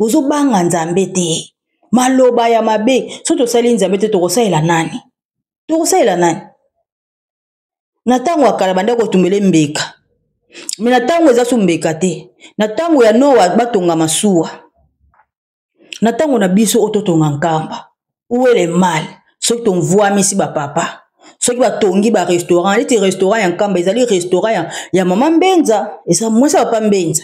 ozobanga nzambe te maloba ya mabe soki tosali nzambe te tokosalela nani tokosalela nani na ntango ya kala bandaki kotumbele mbeka me na ntango eza so mbeka te na ntango ya noa batonga masuwa na ntango na biso oyo totonga nkamba uele mal soki tomvwamisi bapapa soki batongi barestaurant neti restaurant ya nkamba ezali restaurant ya, ya mama mbenza eza mwasi ya papa mbenza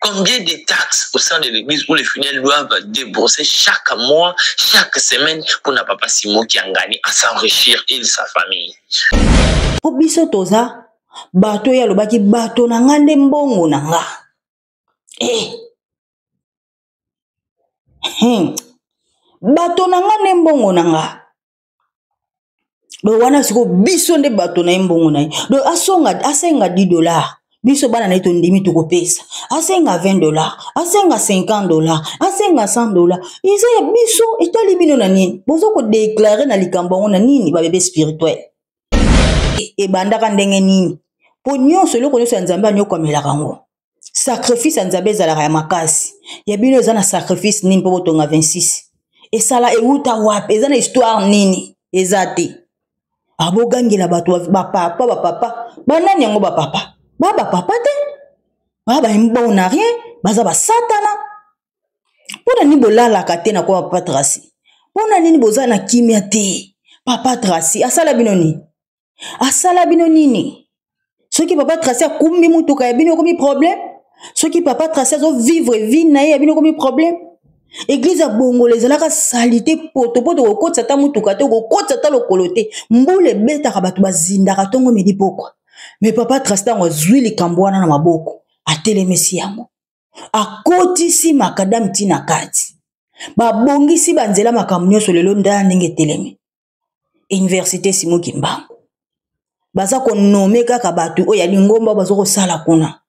Combien de taxes au sein de l'église où les fidèles doivent débourser chaque mois, chaque semaine pour n'a papa Simon qui a gagné à s'enrichir et sa famille. Pour biso toza bato ya lobaki bato na nga nde mbongo na nga. Eh. Hmm. Bato na nga nde mbongo na nga. donc wana sikoyo biso nde bato na ye mbongo na ye donc asonga asenga 10 dollars biso bana na ye tondimi tokopesa asenga 20 dollars asenga 50 dollars asenga 100 dollars eza ya biso etali bino na nini boza kodeklare na likambo yango na nini babebe spirituel ebandaka ndenge nini mpo nyonso eloko nyonso ya nzambe anyokamelaka yango sacrifice ya nzambe ezalaka ya makasi ya bino eza na sacrifice nini mpo botonga 26 esala ewuta wapi eza na histoire nini eza te abogangela ah, bato bapapa bapapa banani yango bapapa ba bapapa te ba baona rien baza basatana mpo na nini bolalaka te na kwa papa trasi mpo na nini boza na kimia te papa trasi asala bino nini asala bino nini soki papa trace akumbi motuka ya bino ekomi problème soki papa trace azovivre vie na ye ya bino ekomi problème eglize ya bongola ezalaka sali te potopoto kokotisa ata motuka te okokotisa ata lokolo te mbula ebetaka bato bazindaka ntongo midi pokwa me papa trace ntango azwi likambo wana na maboko atelemisi yango akotisi makadame ntina kati babongisi banzela makambo nyonso lelo ndala ndenge etelemi université simo kimbangu baza konome kaka bato oyo ya lingomba baza kosala kuna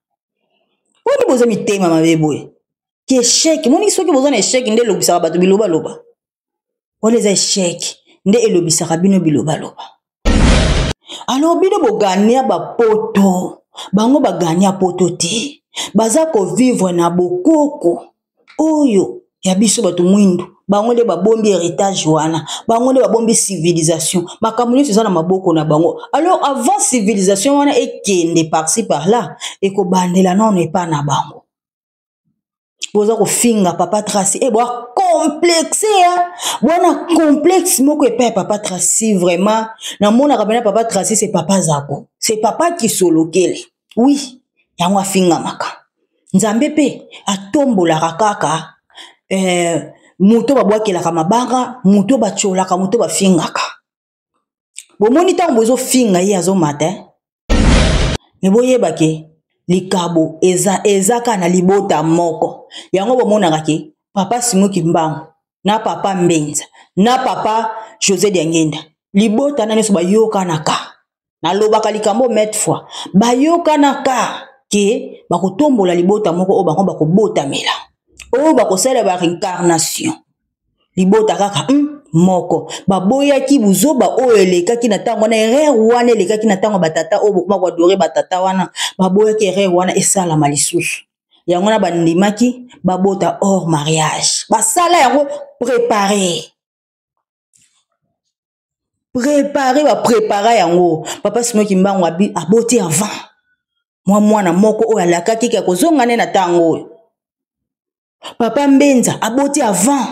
mponi boza mitema mabe boye ki esheke moniki soki boza na esheke nde elobisaka bato bilobaloba wana eza esheke nde elobisaka bino bilobaloba alors bino bogania bapoto bango bagania poto te baza kovivre na bokoko oyo ya biso bato mwindu bango nde babombi heritage wana bango nde babombi civilisation makambo nyonso eza na maboko na bango alors avant civilisation wana ekende parci par là ekobandela nano epa na bango boza kofinga papa traci e eh, boa complexe ya bwana complexe moko epai ya papa traci vraiment namonaka mpena papa traci se papa zako se papa kisolokele wi yango afingamaka Nzambe mpe atombolaka kaka eh, moto babwakelaka mabanga moto batyolaka moto bafingaka bomoni ntango bozofinga ye azomata eh? me boyeba ke likabo eza eza kaka na libota moko yango bomonaka ke papa simoki mbango na papa mbenza na papa josé diangenda libota na nyonso bayokanaka nalobaka likambo mete fois bayokanaka ke bakotombola libota moko oyo bango bakobotamela oyo bakosala ba reincarnation libota kaka hmm, moko baboyaki buzoba oyo elekaki na ntango wana erreur wana elekaki na ntango batata oyo bokoma koadore batata wana baboyaki erreur wana esalama lisusu yango wana bandimaki babota hors mariage basala yango prépare prépare baprépara yango papa simo kimbangu aboti avant mwa mwana moko oyo alakaki ke akozonga nde na ntango oyo papa mbenza aboti avant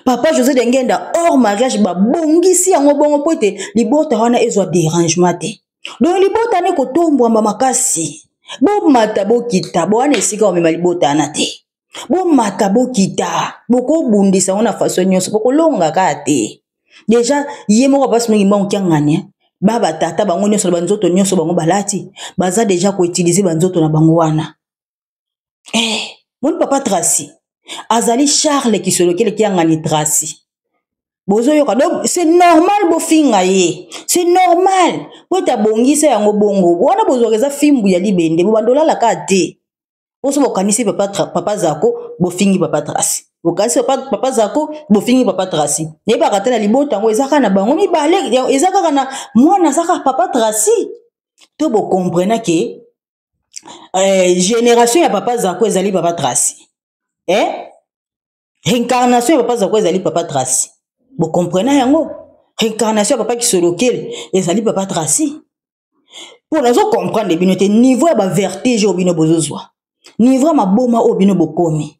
papa josé de ngenda hors mariage babongisi yango bongo mpo ete libota wana ezwa derangement te donc libota ne kotombwama makasi bomata bokita bowana esika omema libota wana te bomata bokita bokobundisa yango na faso nyonso bokolonga kaka te deja ye moko basi mingi mbango kiangani eh. ba batata bango nyonso na banzoto nyonso bango balati baza deja koutilize banzoto na bango wana eh, moni papa tracy azali charle kisolokele kiangani tracy bozoyoka donc c'est normal bofinga ye c'est normal po ete abongisa yango bongo wana bozwaka eza fimbu ya libende bobanda olalaka te oso bokanisi papa, papa zako bofingi papa tracy bokanisi papa, papa zako bofingi papa tracy nayebaka te na libota yango eza kaka na bango mibale eza kaka na mwana aza kaka papa tracy to bokomprena ke eh, génération ya papa zako ezali papa traci eh? réincarnation ya papa zako ezali papa traci bokomprena yango réincarnation ya papa kisolokele ezali papa traci mpo nazo comprendre bino te niveau ya bavertige oyo bino bozozwa niveau ya maboma oyo bino bokomi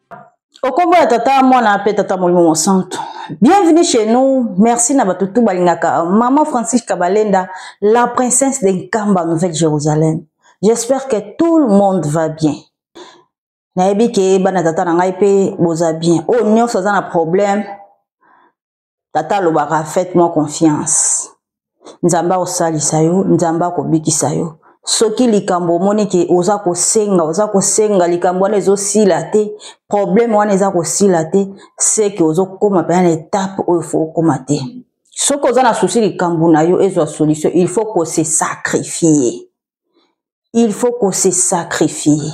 Au combo ya tata mwana pe tata molimo mosantu bienvenue chez nous merci na bato tu balingaka maman francis kabalenda la princesse de nkamba nouvelle jérusalem j'espère que tout le monde va bien nayebi ke bana tata na ngai mpe boza bien oyo oh, nyonso aza na problème tata alobaka faites moi confiance nzambe akosalisa yo nzambe akobikisa yo soki likambo omoni ke oza kosenga oza kosenga likambo wana ezosila te probleme wana eza kosila te seke ozokoma mpena na etape oyo fo okoma te soki oza na susi likambo na yo ezwa solution il faut kosesacrifie il faut ko se sacrifier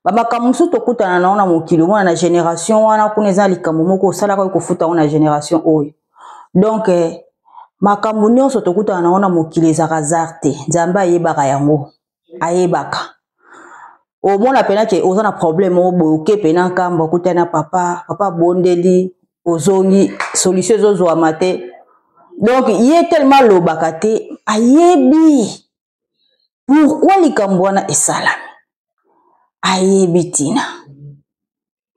bamakambo mosusu tokutana na yango na mokili omona na génération wana kuna eza likambo moko osalaka oyo kofuta yango na génération oyo donc eh, makambo nyonso tokutana na yango na mokili ezaka hasard te nzambe ayebaka yango ayebaka omona mpena ke oza na problème oyo boye oke mpena nkambo okutani na papa papa abondeli ozongi solution ezozwama te donc ye tellement alobaka te ayebi pourkui likambo wana esalami ayebi ntina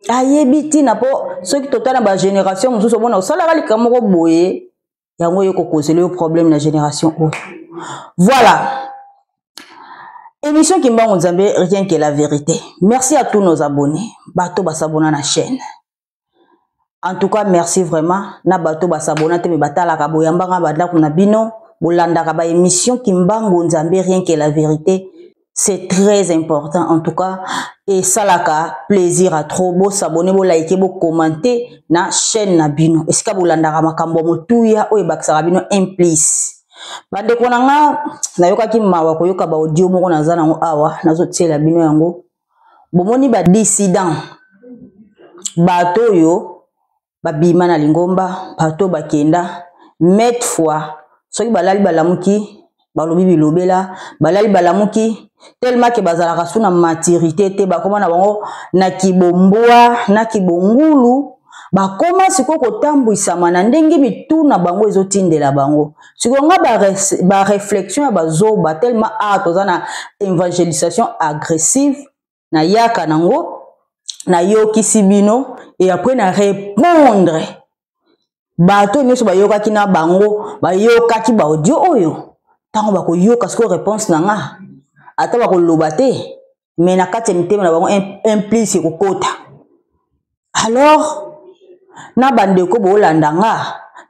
ayebi ntina mpo soki totala na bagénération mosusu omona osalaka likambo moko boye yango oyo kokozela yo problème na génération oyo voilà émission kimbangu nzambe rien que la vérité merci à tous nos abonnés bato basabona na chaîne en tout cas merci vraiment na bato basabona te me batalaka boyambanga bandako na bino bolandaka ba émission kimbangu nzambe rien que la vérité c'est très important en tout cas esalaka plaisir à trop bosabone bolaike bokommente na chaîne na bino esika bolandaka makambo ya motuya oyo ebakisaka bino implice bandeko na nga nayokaki mawa koyoka baaudio moko naza nango awa nazotiela bino yango bomoni ba dissident bato oyo babima na lingomba bato oyo bakenda mete fois soki balali balamuki balobi bilobela balali balamuki tellement ke bazalaka su na maturité te bakoma na bango na kibombwa na kibongulu bakoma sikoyo kotambwisama na ndenge mitu na bango ezotindela bango sikoyo nga bareflexion ya bazoba tellement a toza na evangelisation agressive nayaka nango nayokisi bino e apres na repondre bato oyo nyonso bayokaki na bango bayokaki baaudio oyo ntango bakoyoka sikoyo reponse na nga ata bakoloba te me na kati ya mitema na bango implice ekokota alors na bandeko boolanda nga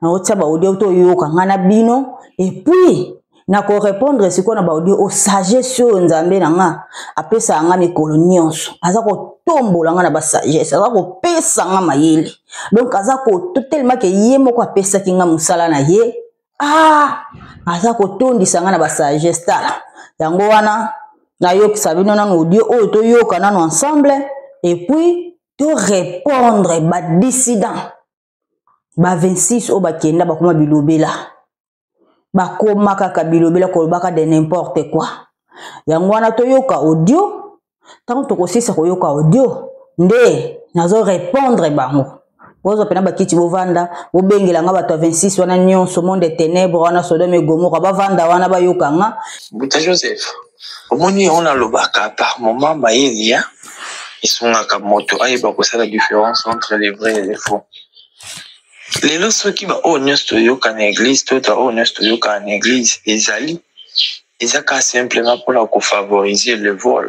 naotia baaudio to oyoka nga na bino epuis nakorepondre sikoyo na baaudio o sagesse oyo nzambe na nga apesaka nga mikolo nyonso aza kotombola nga na basagesse aza kopesa nga mayele donk aza kotelema ke ye moko apesaki nga mosala na ye ah aza kotondisa ngai na basagesse tala yango wana nayokisa bino nano audio oyo toyoka nano ensemble epuis torépondre badissident ba 26 oyo bakenda bakoma bilobela bakoma kaka bilobela kolobaka de n'importe quoi yango wana toyoka audio ntango tokosilisa koyoka audio nde nazo repondre bango bozwa mpena bakiti bovanda bobengela nga bato ya 26 wana nyonso monde ya tenebre wana sodome egomora bavanda wana bayoka nga mbuta joseph omoni yango nalobaka par moment mayele ya esungaka moto ayeba kosala différence entre les vrais et les faux lelo soki baoyo nyonso toyoka na eglise to baoyo nyonso toyoka na eglise ezali eza ka simplement mpona kofavoriser le vol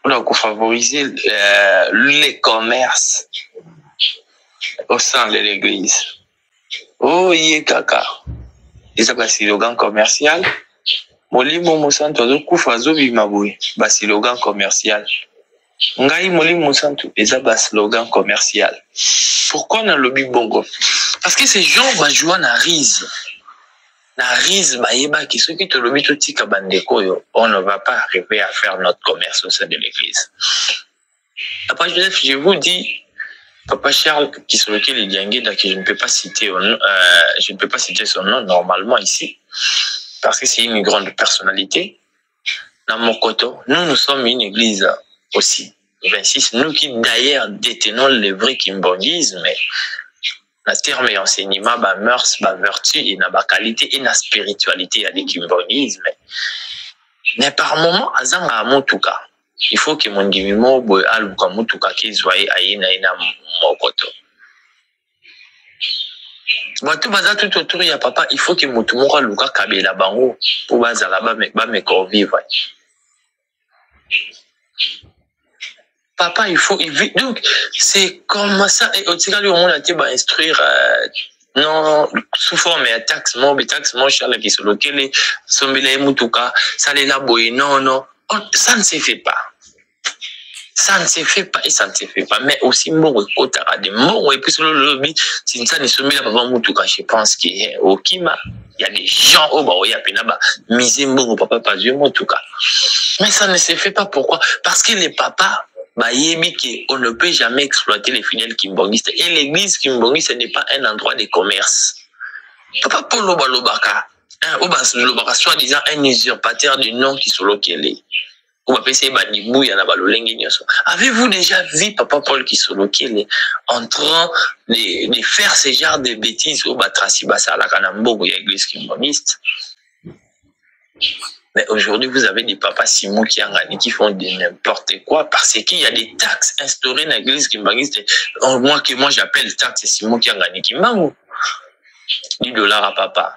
mpona kofavoriser euh, le commerce au sein de l'église oye oh, kaka eza basilogan commercial molimo mosantu azokufa azobima boye basilogan commercial Ngai Molimo Mosantu eza ba slogan commercial. Pourquoi na lobi bongo? Parce que ces gens ba joua na rise. Na rise ba yeba ki soki to lobi to tika ba ndeko yo, on ne va pas arriver à faire notre commerce au sein de l'église. Papa Joseph, je vous dis, Papa Charles Kisoloki Lidiangeda, que je ne peux pas citer, euh, je ne peux pas citer son nom normalement ici, parce que c'est une grande personnalité. na mokoto nous nous sommes une église aussi 26 nous qui d'ailleurs détenons le vrai kimbogisme na terme ya enseignement ba mœurs ba vertu et na ba qualité et na spiritualité ya likimbogisme mais par moment azangaka motuka il faut ke mondimi moko boye aluka motuka kezwa ye aye na ye na mokoto bato baza tout autour ya papa il faut ke motu moko aluka kabela bango mpo bazala bameka ovivre papa il faut donc c'est comme ça et otikali omona te bainstruire euh, non sous forme ya taxe mo betaxe mo charle kisolokele sombela ye motuka salela boye non non oh, ça ne se fait pas ça ne se fait pas et ça ne se fait pas mais aussi mbongo ekotaka de mbongo epesi lolobi tinsani sombela papa motuka je pense que eh, okima ya des gens oyo baoya mpena bamise mbongo papa pazwi motuka mais ça ne se fait pas pourquoi parce que les papas bayebi que on ne peut jamais exploiter les fidèles kimbongistes et l'église kimbongiste n'est pas un endroit de commerce papa polo balobaka oyo balobaka soit disant un usurpateur du nom kisolokele po bapesi ye badibuya na balolenge nyonso avez-vous déjà vu papa paul kisolokele en train de, de faire ce genre de bêtise oyo batrasi basalaka na mbogo ya église kimbaniste Mais aujourd'hui, vous avez des papas Simon qui Angani qui font de n'importe quoi parce qu'il y a des taxes instaurées dans l'église kimbanguiste. Oh, moi, que moi j'appelle taxe Simon qui Angani Kimbangu. 10 dollars à papa.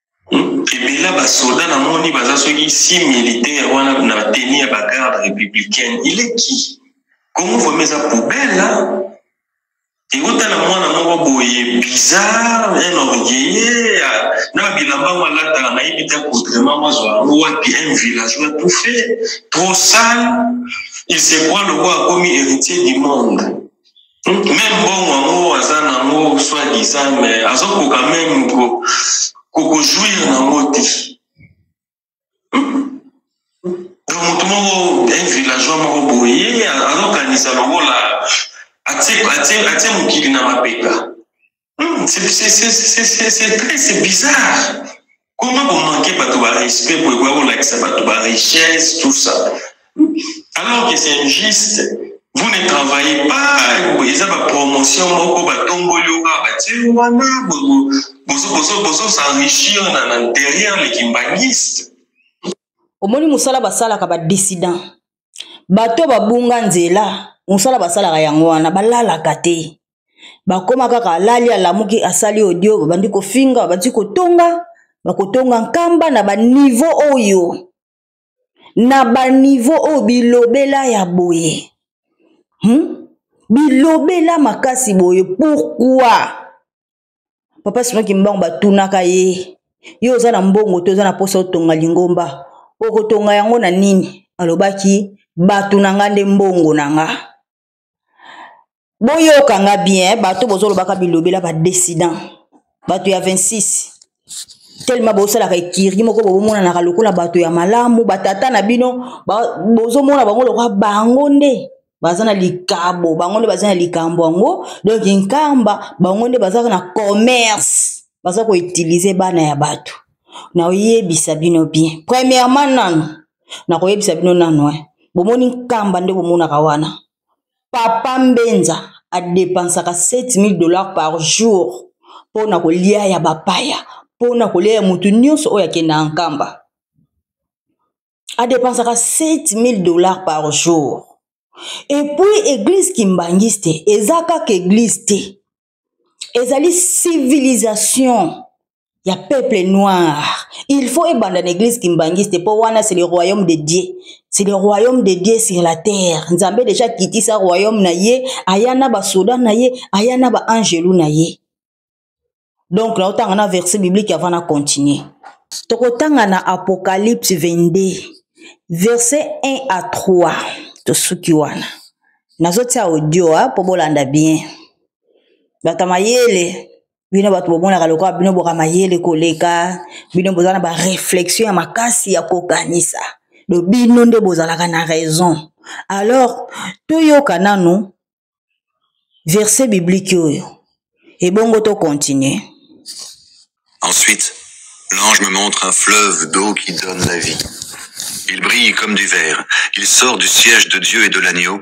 ebela basoda namoni baza soki si militaire wana na teni ya bagarde républicaine eleki kongo vraimen eza poubelle euta na mwana moko boye bizarre un orgueilleux na bilamba yango alataka nayebi te contrement mwazwa yango wapi un villageois tout fait trop sale il se croit lokola akomi héritier du monde meme mbongo yango aza nango soit disant mais azokoka meme kokojouir nango te donc motu moko un villageois moko boye azokanisa lokola atie mokili na mapeka Non, c'est c'est- c'est- c'est- c'est- c'est très- c'est bizarre. Comment vous manquez bato ba respect pour quoi on accès bato ba richesse, tout ça. Alors que c'est injuste. Vous ne travaillez pas, ils ont ma promotion, moko ba tomboli ou pas, ba tiens, wana, bozo, bozo, bozo, bozo s'enrichir na, na, derrière les kimbanguistes. omoni mosala basalaka badissident bato oyo babunga nzela mosala basalaka yango wana balalaka te bakoma kaka alali alamuki asali audio babandi kofinga babandi kotonga bakotonga nkamba na banivo oyo na banivo oyo bilobela ya boye hmm? bilobela makasi boye pourkui papa sima kimbangu batunaka ye yo oza na mbongo te oza na mposa otonga lingomba okotonga yango na nini alobaki bato na nga nde mbongo na nga boyoka nga bien bato bozolobaka bilobela badessident bato ya 26 telema bosalaka ekirgi moko bobomonanaka lokola bato ya malamu batata na bino bozomona bango lokola bango nde baza na likabo bango nde baza na likambo yango donk nkamba bango nde bazaka na commerce baza koutilize bana ya bato naoyebisa bino bien premièrement nano nakoyebisa bino nano eh. bomoni nkamba nde bomonaka wana papa mbenza adepensaka 7000 dollars par jour mpo na kolia ya bapaya mpo na kolia ya moto nyonso oyo akenda ya nkamba adepensaka 7000 dollars par jour epuis eglise kimbanguiste eza kaka eglise te ezali civilisation ya peuple noir il faut ebanda na église kimbanguiste mpo wana c'est le royaume de dieu c'est le royaume de dieu sur la terre nzambe deja akitisa royaume na ye aya na basoda na ye aya na baangelu na ye donc naotanga na verset biblique avant na continue tokotanga na apocalypse 22 verset 1 à 3 tosuki wana nazotia audio mpo bolanda bien bato ya mayele bino bato bomonaka lokola bino boka mayele koleka bino boza na bareflexion ya makasi ya kokanisa do bino nde bozalaka na raison alors toyoka nanu verset biblique oyo ebongo tocontinue ensuite l'ange me montre un fleuve d'eau qui donne la vie Il brille comme du verre. Il sort du siège de Dieu et de l'agneau.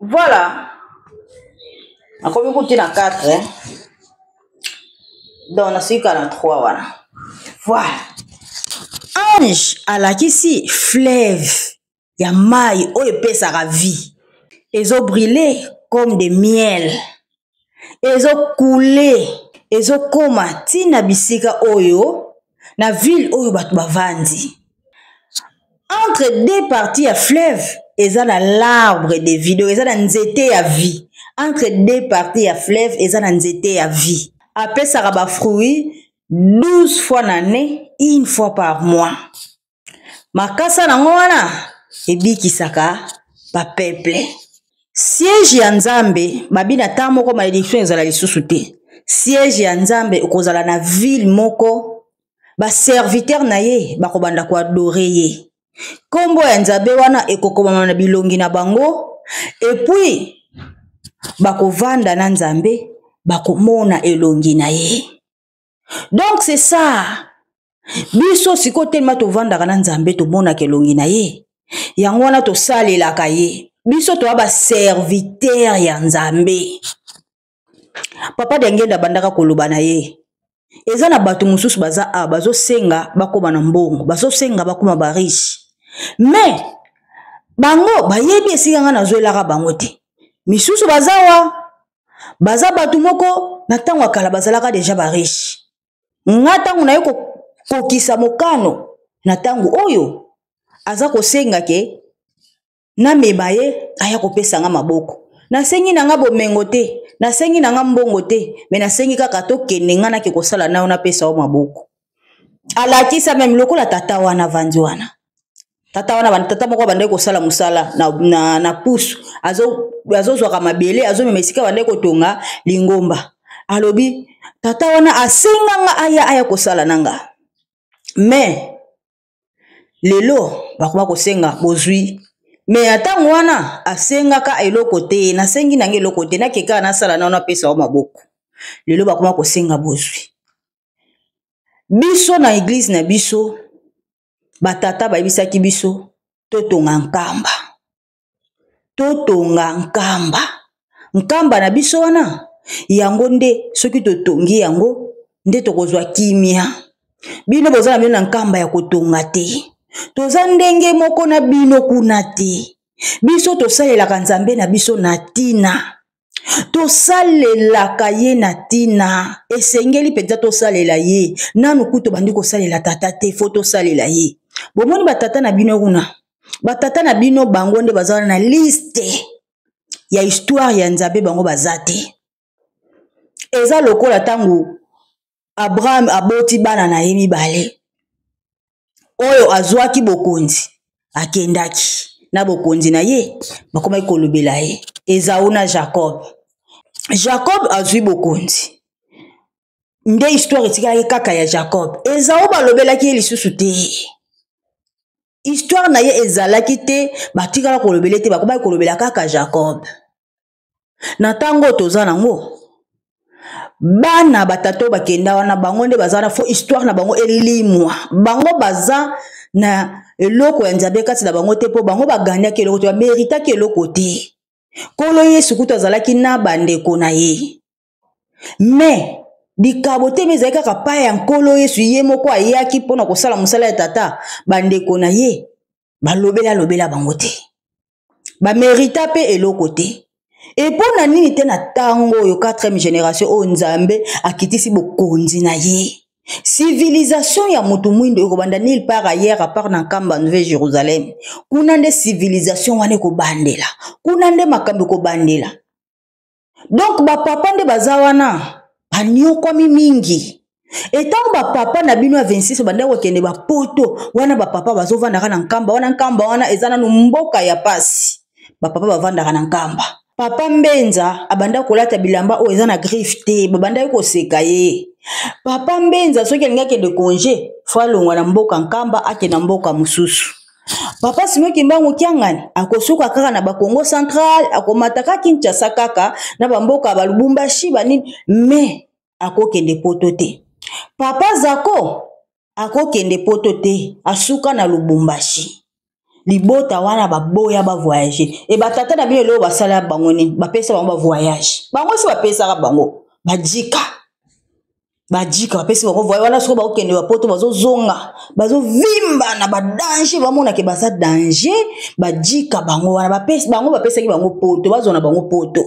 voilà nakomi kuti na 4 eh? donc nasika na 3 wana voilà ange alakisi fleuve ya mai oyo epesaka vie ezobrille comme de miel ezokule ezokoma ntina na bisika oyo na ville oyo bato bavandi entre deux partie ya fleuve eza na l'arbre de vie donc eza na nzete ya vie entre deux partie ya fleuve eza na nzete ya vie apesaka bafruit 12 fois na année une fois par mois makasa nango wana ebikisaka bapeple siege ya nzambe babi na ntango moko malediction ezala lisusu te siege ya nzambe okozala na ville moko baserviteur na ye bakobanda koadore ye nkombo ya nzambe wana ekokomama na bilongi na bango epuis bakovanda na nzambe bakomona elongi na ye donc c'est ça biso sikoyo telema tovandaka na nzambe tomonaka elongi na ye yango wana tosalelaka ye biso toya baserviteur ya nzambe papa dengenda abandaka koloba na ye eza na bato mosusu baza awa bazosenga bakoma na mbongo bazosenga bakoma bariche mais bango bayebi esika ngai nazwelaka bango te misusu baza wa baza bato moko na ntango ya kala bazalaka deja bariche nga ntango naye kokokisa mokano na ntango oyo aza kosenga ke nameba ye aya kopesa nga maboko nasengi na nga bomengo te nasengi na nga mbongo te me nasengi kaka tokende nga nake kosala nayo napesa yo maboko alakisa meme lokola tata wana avandi wana tata wana tata moko abandaki kosala mosala na, na, na pusu azozwaka azo mabele azomema esika abandaki kotonga lingomba alobi tata wana asenganga aya aya kosala na nga me lelo bakoba kosenga bozwi me ya ntango wana asengaka eloko te nasengi na ngai eloko te nakekaka nasala nano apesa yo maboko lelo bakoma kosenga bozwi biso na eglize na biso batata bayebisaki biso totonga nkamba totonga nkamba nkamba na biso wana yango nde soki totongi yango nde tokozwa kimia bino boza na bino na nkamba ya kotonga te toza ndenge moko na bino kuna te biso tosalelaka nzambe na biso na ntina tosalelaka ye na ntina esengeli mpenza tosalela ye nanu kutu obandi kosalela tata te fo tosalela ye bomoni batata na bino kuna batata na bino bango nde baza na liste ya histoire ya nzambe bango baza te eza lokola ntango abraham aboti bana na ye mibale oyo azwaki bokonzi akendaki na bokonzi na ye bakomaki kolobela ye ezau na jacob jacob azwi bokonzi nde histoire etikalaki kaka ya jacob ezau balobelaki ye lisusu te histoire na ye ezalaki te batikala kolobela te bakomaki kolobela kaka jacob na ntango oyo toza nango bana batata oyo bakenda wana bango nde baza wana fo histoire na bango elimwa bango baza na eloko ya nzambe kati na bango te mpo bango baganyaki eloko te bameritaki eloko te nkolo yesu kutu azalaki na bandeko na ye mais likabo te me ezali kaka pai ya nkolo yesu ye moko ayaki mpo na kosala mosala ya tata bandeko na ye balobela lobela bango te bamerita mpe eloko te epo na nini te na ntango oyo 4e generation oyo nzambe akitisi bokonzi na ye civilisation ya motu mwindo ekobanda nil par ailleurs apart na nkamba nouvel jérusalem kuna nde civilisation wana ekobandela kuna nde makambo ekobandela donk bapapa nde baza wana banyokwami mingi etango bapapa na bino ya 26 bandaki kokende bapoto wana bapapa bazovandaka na nkamba wana nkamba wana eza nanu mboka ya pasi bapapa bavandaka na nkamba papa mbenza abandaki kolata bilamba oyo eza na griffe te babandaki koseka ye papa mbenza soki alingi akende konge fo alongwa na mboka nkamba akenda mboka mosusu papa sino kimbangu kiangani akosuka kaka na bakongo central akomataka kinshasa kaka na bamboka balubumbashi banini me akokende poto te papa zako akokende poto te asuka na lubumbashi libota wana baboya bavoyage e batata na bino eloko basala bango nini bapesa bango bavoyage bango si bapesaka bango bajika bajika bapesi bango voye wana soko bakokende bapoto bazozonga bazovimba na badanger bamonake baza danger bajika bango wana bapesi bango bapesaki bango poto bazwa na bango poto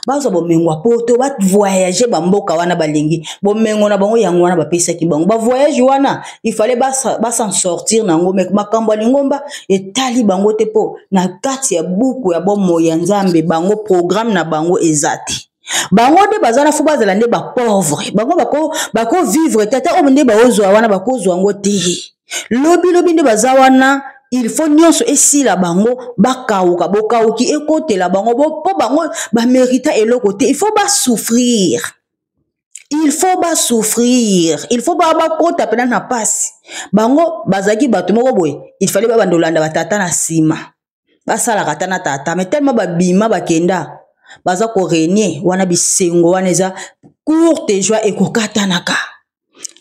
bazwa bomengo ya poto bavoyage bamboka wana balingi bomengo na bango yango wana bapesaki bango bavoyage wana ifale basan sortir na yango me makambo ya lingomba etali bango te mpo na kati ya buku ya bomoi ya nzambe bango programme na bango eza te bango nde baza na fo bazala nde bapauvre bango bakovivre bako tata oyo nde baozwa wana bakozwa yango te lobi lobi nde baza wana il faut nyonso esila bango bakauka bokauki ekotela bango mpo bango bamerita eloko te il faut basouffrir il faut basouffrir il faut baa bakota mpena na mpasi bango bazalaki bato moko boye il fallait babanda olanda batata na nsima basalaka ata na tata me telema babima bakenda baza korenie wana bisengo wana eza courte joie ekokatanaka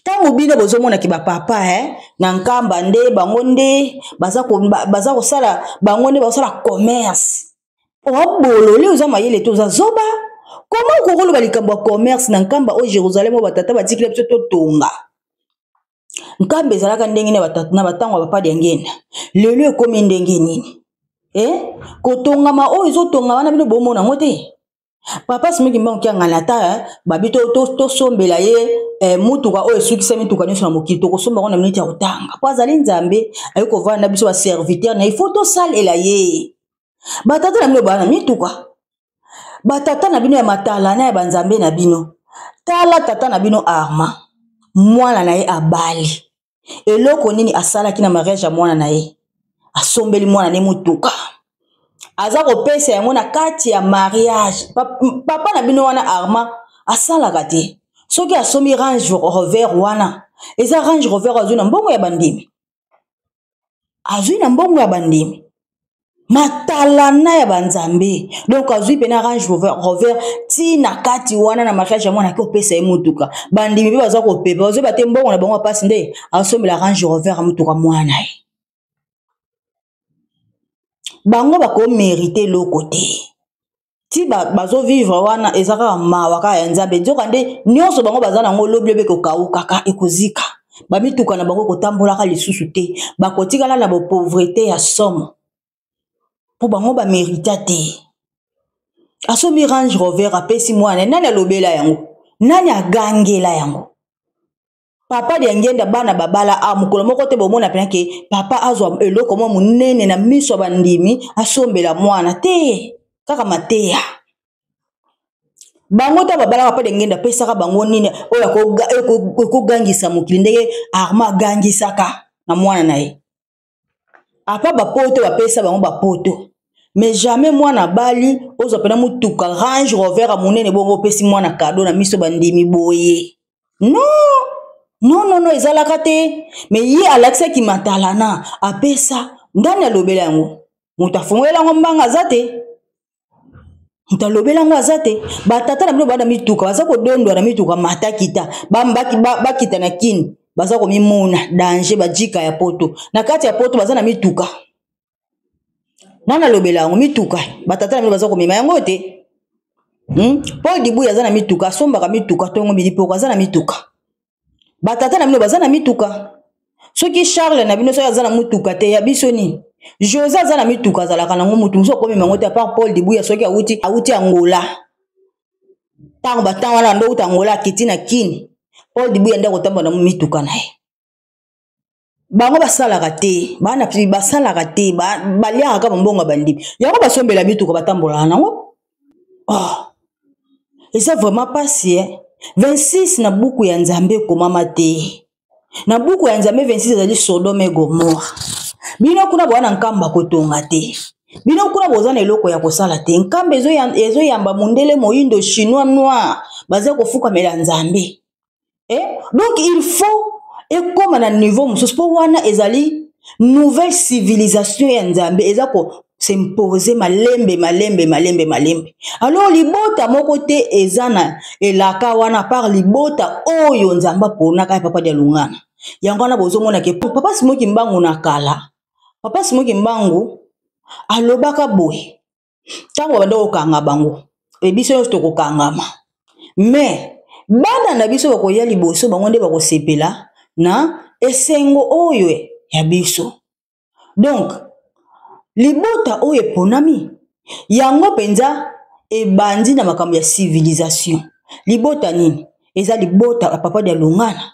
ntango bino bozomonaki bapapa e eh, na nkamba nde bango nde baza kosala bango nde bakosala commerce obolole oza mayele te oza zoba koma okokoloba likambo ya commerce na nkamba oyo jérusalem oyo batata batikila biso totonga Nkamba ezalaka ndenge na batango ya papa Diangenda. Lelo ekomi ndenge nini? Eh? Kotongama oyo ezotongama wana bino bomona yango te? Papa Simon Kimbangu Kiangani ata eh, babi tosombela to, to ye eh, motuka oyo esukisa mituka nyonso na mokili tokosomba yango na miniti ya kotanga mpo azali nzambe aye kovanda na biso baserviteur na ye fo tosalela ye batata na bino bana mituka batata na bino ya matala na ya banzambe na bino tala tata na bino arma mwana na ye abali eloko nini asalaki na mariage ya mwana na ye asombeli mwana ne motuka aza kopesa yango na kati ya mariage papa na bino wana arma asalaka te soki asombi range rover wana eza range rover azwi na mbongo ya bandimi azwi na mbongo ya bandimi matalana ya banzambe donc azwi mpena range rover ti na kati wana na mariage ya mwana ake opesa ye motuka bandimi mpe baza kopepa bazoyeba te mbongo na bango ya mpasi nde asombela range rover ya motuka mwana ye bango bakomerite eloko te ti bazo vivre wana eza kaka mawa kaka ya nzambe nzoka nde nyonso bango baza nango lobi lobi ekokaukaka ekozika bamituka na bango ekotambolaka lisusu te bakotikala na bopauvrete ya somo mpo bango bamerita te asomi range rover apesi mwana nani alobela yango nani agangela yango papa diangenda bana babala a ah, mokolo moko te bomona mpena ke papa azwa eloko mwa monene na miso ya bandimi asombela mwana te kaka mateya bango ntango babalaka mpo dengenda apesaka bango nini oyo ekogangisa mokili ndenge arma agangisaka na mwana na ye apa bapoto bapesa bango bapoto mais jamais mwana abali ozwa mpena motuka range rover ya monene bongo opesi mwana kado na miso bandimi boye no no no no ezalaka te mais ye alakisaki matalana apesa ndani alobela yango moto afongolela yango mbanga aza te moto alobela yango aza te batata na bino baa na mituka baza kodondwa na mituka mata kita bakita na kini baza komimona danger bajika ya poto na kati ya poto baza na mituka nani alobela yango mituka batata na bino baza komema yango te Hmm? paul dibuya aza na mituka asombaka mituka ntongo midi mpe oko aza na mituka batata na bino baza na mituka soki charles na bino soki aza na motuka te ya biso nini jose aza na mituka azalaka nango motu mosusu akomi mango te apart paul dibuya soki awuti awuti angola ntango bantango wana ando uta angola akiti na kini paul dibuya nde akotambola na mituka na ye bango basalaka te bana basalaka te baliaka kaka mbongo ya bandimi yango basombela mituka batambolaka nango oh. eza vraiment mpasi e eh? 26 na buku ya nzambe ekomama te na buku ya nzambe 26 ezali sodome gomora bino kuna boza na nkamba kotonga te bino kuna boza na eloko ya kosala te nkamba ezoyamba mondele moindo chinois noir baza kofukamela nzambe eh? donc il faut ekóma na niveau mosusu mpo wana ezali nouvelle civilisation ya nzambe eza ko s'impose malembe malembe malembe malembe alors libota moko te eza na elaka wana par libota oyo nzambe aponaka ya papa dialungana yango wana bozomona ke papa simoki mbangu na kala papa simoki mbangu alobaka boye ntango babanda kokanga bango e biso nyonso tokokangama me bana na biso bakoya liboso bango nde bakosepela na esengo oyo ya biso donk libota oyo eponami yango mpenza ebandi na makambo ya civilisation libota nini eza libota ya papa de alongana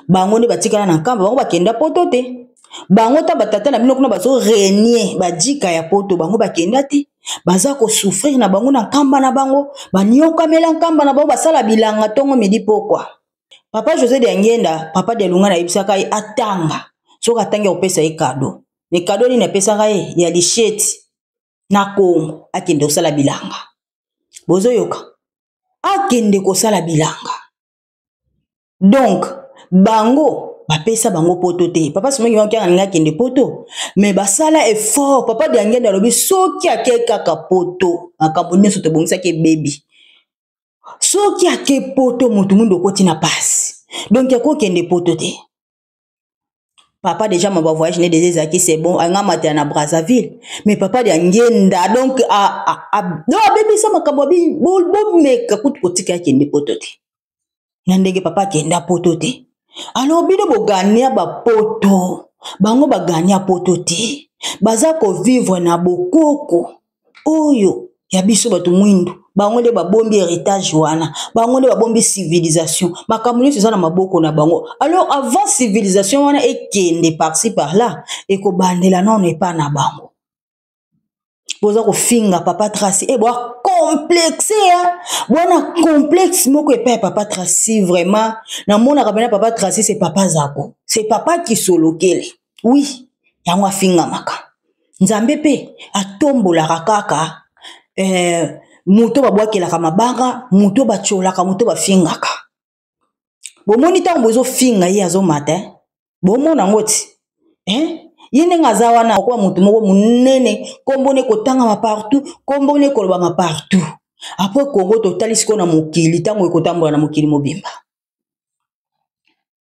bango nde batikala na nkamba bango bakenda poto te bango ta batata na bino kuna bazo renie bajika ya poto bango bakenda te baza kosouffrir na bango na nkamba na bango baniokamela nkamba na bango basala bilanga ntongo midi pokwa papa josé de angenda papa de alunga nayebisaka ye atanga soki atangi akopesa ye kado me kado nini apesaka ye ya lisheti na kongo akende kosala bilanga bozoyoka akende kosala bilanga donc bango bapesa bango poto te papa simoki maki alingi akende poto me basala effort papa diangende alobi soki ake kaka poto makambo nyonso tobongisaki ebebi soki ake poto motu mundu okoti na pasi donk akokende poto te papa déjà ma voyage ne déjà ezalaki c'est bon anga matela na brazzaville mais papa de angenda donc no abebisa makambo abi bomeka kutu kotika akende poto te na ndenge papa akenda poto te alors bino bogania bapoto bango bagania poto te baza kovivre na bokoko oyo ya biso bato mwindu bango nde babombi heritage wana bango nde babombi civilisation makambo nyonso eza na maboko na bango alors avant civilisation wana ekende parci par là ekobandela nano epa na bango boza kofinga papa traci e eh, boa complexe ya bwana complexe moko epai ya papa traci vraiment namonaka mpena papa traci se papa zako se papa kisolokele wi yango afingamaka Nzambe mpe atombolaka kaka eh, moto babwakelaka mabanga moto batyolaka moto bafingaka bomoni ntango bozofinga ye azomata eh? bomona yango ti eh? ye ndenge aza wana akoba moto moko monene nkombo ne kotangama partout nkombo ne kolobama partout apres kongo totali sikoyo na mokili ntango ekotambola na mokili mobimba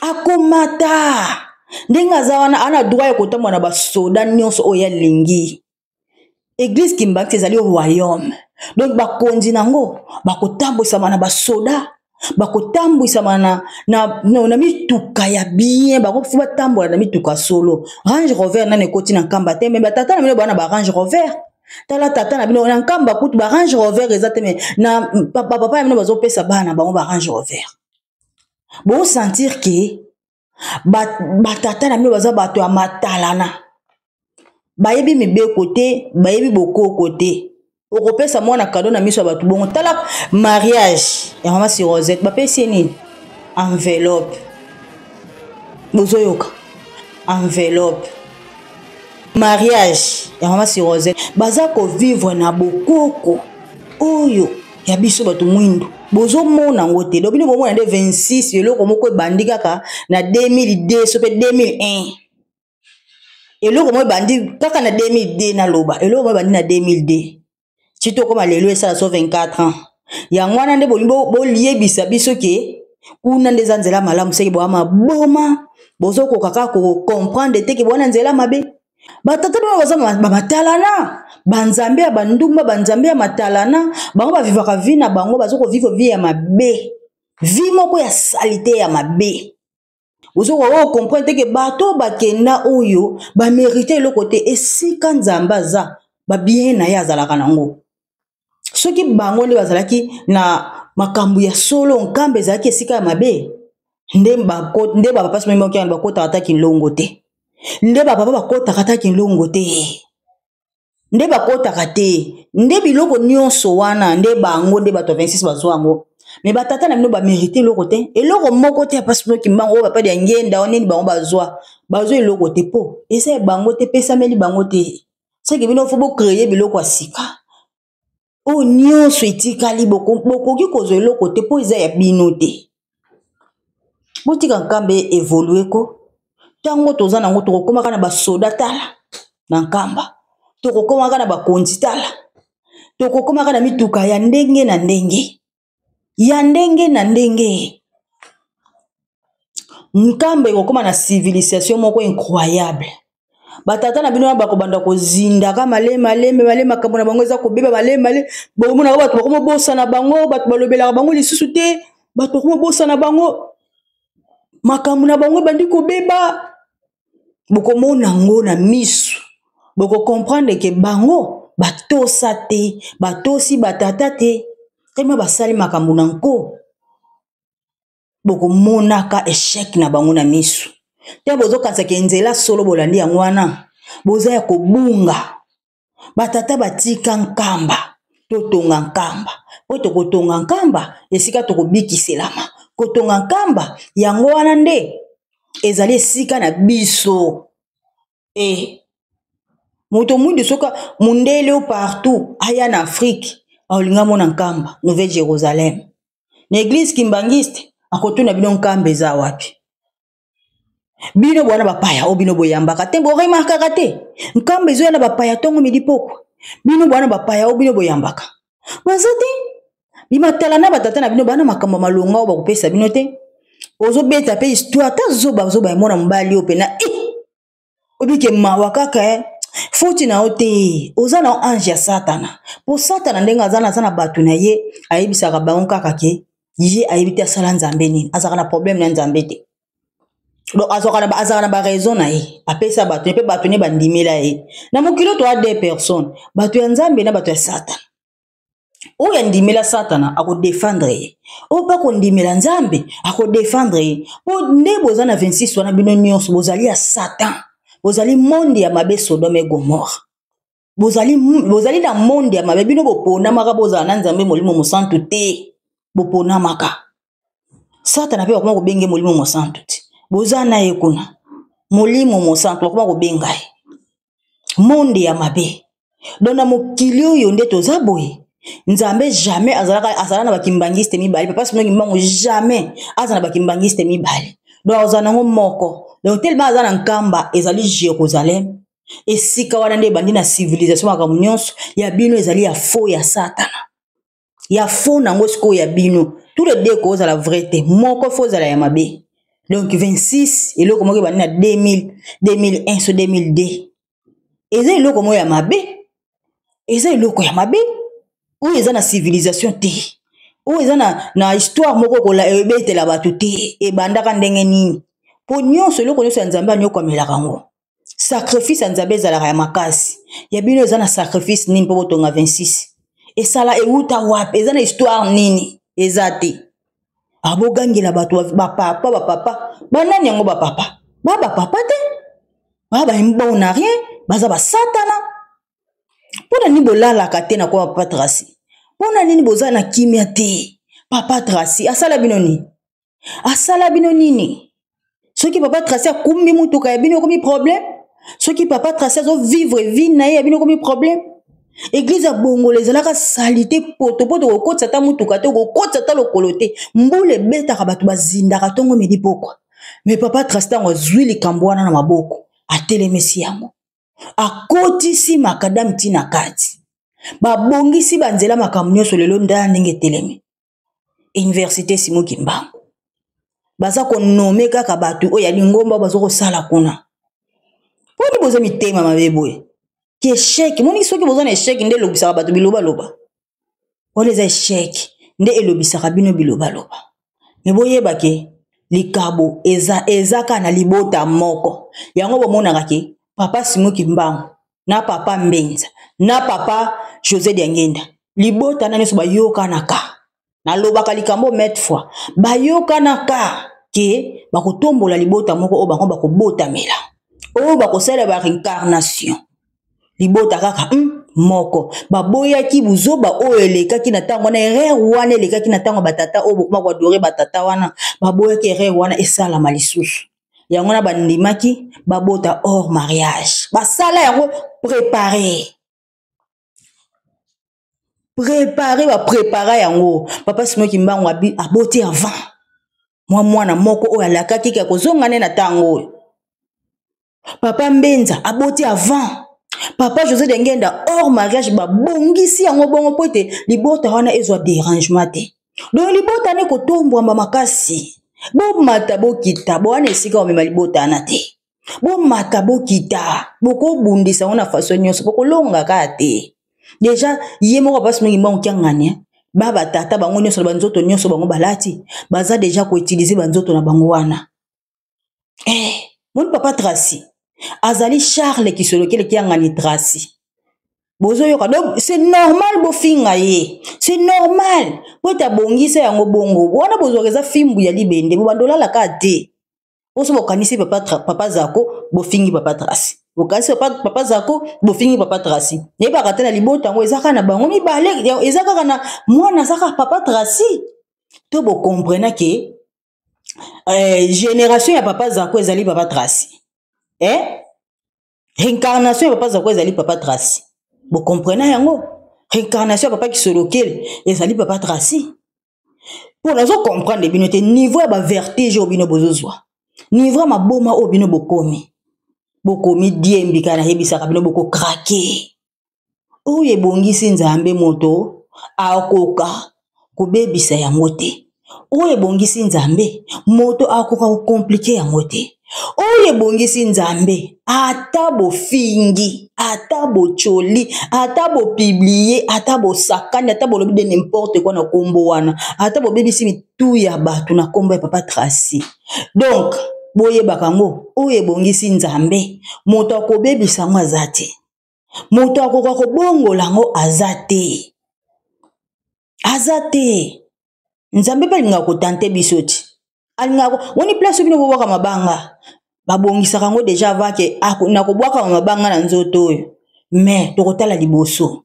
akomata ndenge aza wana ana droit ya kotambola na basoda nyonso oyo alingi eglise kimbakisi ezali royaume donc bakonzi na yango bakotambwisama na basoda bakotambwisama na, na, na, na mituka ya bien bakofi batambola na mituka solo range rover nani ekoti na nkamba te me batata na bino bana ba range rover tala tata na bino na nkamba kutu ba range rover eza te me na papa na bino bazopesa bana bango ba range rover bosentir ke batata na bino baza bato ya matalana bayebi mibeko te bayebi bokoko te okopesa mwana kado na miso ya bato bongo tala mariage ya mama si rosette bapesi ye nini enveloppe bozoyoka enveloppe mariage ya mama si rosette baza kovivre na bokoko oyo ya biso bato mwindu bozomona yango te lobi nde bomona nde 26 eloko moko ebandi kaka na 2002 so mpe 2001 eloko moko ebandi kaka na 2002 naloba eloko moko ebandi na 2002 ti tokoma lelo esala so 24 ans yango wana nde bolingi boyebisa biso ke kuna nde eza nzela malamu seke boama boma bozokoka kaka kocomprendre te ke bowana nzela mabe batata bino baza bamatalana banzambe ya bandumba banzambe ya matalana bango bavivaka vi na bango baza koviva vi ya mabe vi moko ya salite ya mabe ozoka oyo oh, comprendre te ke bato oyo bakenda oyo bamerite eloko te esika nzambe aza babien na ye azalaka nango soki bango nde bazalaki na makambo ya solo nkamba ezalaki esika ya mabe nde nde baba mpasi mai maokiana bakotaka ata kilongo te nde bababa bakotaka ata kilongo te nde bakotaka te nde biloko nyonso wana nde bango nde bato ya 26 bazwa yango me batata na bino bamerite eloko te eloko moko te apasi noki mbango oyo bapadi ya ngenda o nini bango bazwa bazwa eloko te mpo eza ya bango te epesameli bango te seke bino fo bocreye biloko ya sika oyo nyonso etikali bokoki kozwa eloko te mpo eza ya bino te botika nkamba evolue ko ntango toza nango tokokomaka na basoda tala na nkamba tokokomaka na bakonzi tala tokokomaka na mituka ya ndenge na ndenge ya ndenge na ndenge nkambo ekokoma na civilisation moko incroyable batata na bino wana bakobanda kozindaka malemi malemi male makambo na bango eza kobeba malemi male bokomonaka bato bakomobosana bango bato balobelaka bango lisusu te bato bakomobosana bango makambo na bango ebandi kobeba bokomona yango na miso bokokomprendre ke bango batosa te batosi batata te teme basali makambo na nko bokomonaka echec na bango na miso te bozokanisaka nzela solo bolandi yango wana boza ya kobunga batata batika nkamba totonga nkamba mpo tokotonga nkamba esika tokobikiselama kotonga nkamba yango wana nde ezali esika na biso e moto mwindu soki mondele o partout aya na afrike aolinga mona nkamba nouvelle jérusalem na eglise kimbanguiste akotuna bino nkamba eza wapi bino bwana bapaya oyo bino boyambaka te boremarkaka te nkamba ezoya na bapaya ntongo midi pokwa bino bwana bapaya oyo bino boyambaka baza te bimatala na batata na bino bana makambo malonga oyo bakopesa bino te ozobeta mpe histoire ata zoba zoba ya mwana mobali oyo mpena e eh! oyebi ke mawa kaka eh? foti na yo te oza na ange ya satana mpo satana ndenge aza na aza na bato na ye ayebisaka bango kaka ke ye ayebi te asala nzambe nini azalaka na problème na nzambe te donc azalaka na baraison na ye apesa bato ye mpe bato ne bandimela ye na mokili oyo toa de personne bato ya nzambe na bato ya satana oyo andimela satana akodefendre ye oyo mpe akondimela nzambe akodefendre ye mpo nde boza na 26 wana bino nyonso bozali ya satan bozali monde ya mabe sodome gomore bozali, bozali na monde ya mabe bino boponamaka bozala na nzambe molimo mosantu te boponamaka satana mpe bakoma kobenge molimo mosantu te boza na ye kuna molimo mosantu bakoma kobenga ye monde ya mabe don na mokili oyo nde toza boye nzambe jamais azalaka azala na bakimbangiste mibale papa sino kimbangu jamais aza na bakimbangiste mibale don akozala nango moko don telema aza na nkamba ezali jérusalem esika wana nde ebandi na civilisation makambo nyonso ya bino ezali ya fo ya satana ya faux na yango sikoyo ya bino tout le deux ekozala vrai te moko fo ozala ya mabe donc 26 eloko moko ebandi na 2000 2001 so 2002 eza eloko moko ya mabe eza eloko ya mabe oyo eza na civilisation te oyo eza na, na histoire moko okola ebetela bato te ebandaka ndenge nini mpo nyonso eloko nyonso ya nzambe anyokwamelaka yango sacrifice ya nzambe ezalaka ya makasi ya bino eza na sacrifice nini mpo botonga 26 esala ewuta wapi eza na histoire nini eza te ah, bogangela bato bapapa bapapa banani yango bapapa ba bapapa te ba baona rien baza basatana mpo na nini bolalaka te na kwa papa trasi mpo na nini boza na kimia te papa trasi asala bino nini asala bino nini soki papa trace akumbi motuka ya bino ekomi problème soki papa trace azovivre vie na ye ya bino ekomi problème eglize ya bongola ezalaka salite potopoto kokotisa ata motuka te kokotisa ata lokolo te mbula ebetaka bato bazindaka ntongo midi pokwa me papa trace ntango azwi likambo wana na maboko atelemisi yango akotisi makadame ntina kati babongisi banzela makambo nyonso lelo ndala ndenge etelemi université simo kimbangu baza konome kaka bato oyo ya lingomba baza kosala kuna mponi boza mitema mabe boye ki esheke moni soki boza na esheke nde elobisaka bato bilobaloba wana eza esheke nde elobisaka bino bilobaloba me boyeba ke likabo eza ezaka na libota moko yango bomonaka ke papa simo kimbangu na papa mbenza na papa josé diangenda libota na nyonso bayokanaka nalobaka likambo mete fois bayokanaka ke bakotombola libota moko oyo bango bakobotamela oyo bakosala ba reincarnation libota kaka hmm, moko baboyaki buzoba oyo elekaki na ntango wana erreur wana elekaki na ntango batata oyo bokoma koadore batata wana baboyaki erreur wana esalama lisusu yango wana bandimaki babota hors mariage basala yango prépare prépare baprépara yango papa simo kimbangu aboti avant mwa mwana moko oyo alakaki ke akozonga nde na ntango oyo papa mbenza aboti avant papa josé dengenda hors mariage babongisi yango bongo mpo ete libota wana ezwa derangement te donc libota ne kotombwama makasi bomata bokita bowana esika omema libota wana te bomata bokita bokobundisa yango na faso nyonso bokolonga kaka te deja ye moko basi mingi mbango kiangani eh. ba batata bango nyonso na banzoto nyonso bango balati baza deja koutilize banzoto na bango wana eh, moni papa tracy azali charle kisolokele kiangani tracy bozoyoka donc c'est normal bofinga ye c'est normal po ete abongisa yango bongo wana bozwaka eza fimbu ya libende bobanda olalaka te oso bokanisi papa, papa zako bofingi papa tracy bokanisi papa, papa zako bofingi papa tracy nayebaka te na libota yango eza kaka na bango mibale eza kaka na mwana aza kaka papa tracy to bokomprena ke eh, génération ya papa zako ezali papa traci eh? réincarnation ya papa zako ezali papa traci bokomprena yango réincarnation ya papa kisolokele ezali papa traci mpo nazo comprendre bino te niveau ya bavertige oyo bino bozozwa niveau ya maboma oyo bino bokomi bokomi diembika nayebisaka bino bokokrake oyo ebongisi nzambe moto akoka kobebisa yango te oyo ebongisi nzambe moto akoka kokomplike yango te oyo ebongisi nzambe ata bofingi ata bocoli ata bopiblie ata bosakani ata bolobi de nimporte kua na nkombo wana ata bobebisi mitu ya bato na nkombo ya papa traci donk boyebaka yango oyo ebongisi nzambe moto akobebisa yango aza te moto akoka kobongola yango aza te aza te nzambe mpe alingaka kotante biso ti alingaka woni place bino bobwaka mabanga babongisaka yango deja avake nakobwakama mabanga na nzoto oyo me tokotala liboso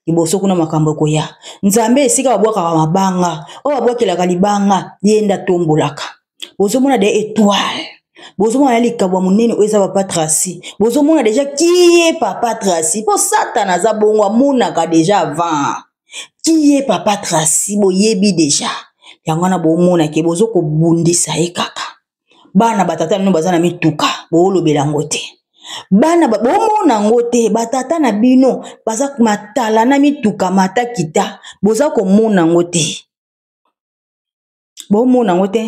liboso kuna makambo ekoya nzambe esika babwakaka mabanga oyo babwakelaka libanga ye nde atombolaka bozomona de etoile bozomona ya likambo ya monene oyo eza papa tracy bozomona deja kiye papa tracy mpo satana aza bongo amonaka deja avant kiye papa tracy boyebi deja yango wana bomona ke bozo kobundisa ye kaka bana batata bino baza na mituka boolobela yango te bana bomona yango te batata na bino baza matala na mituka mata kita boza komona yango te bomona yango te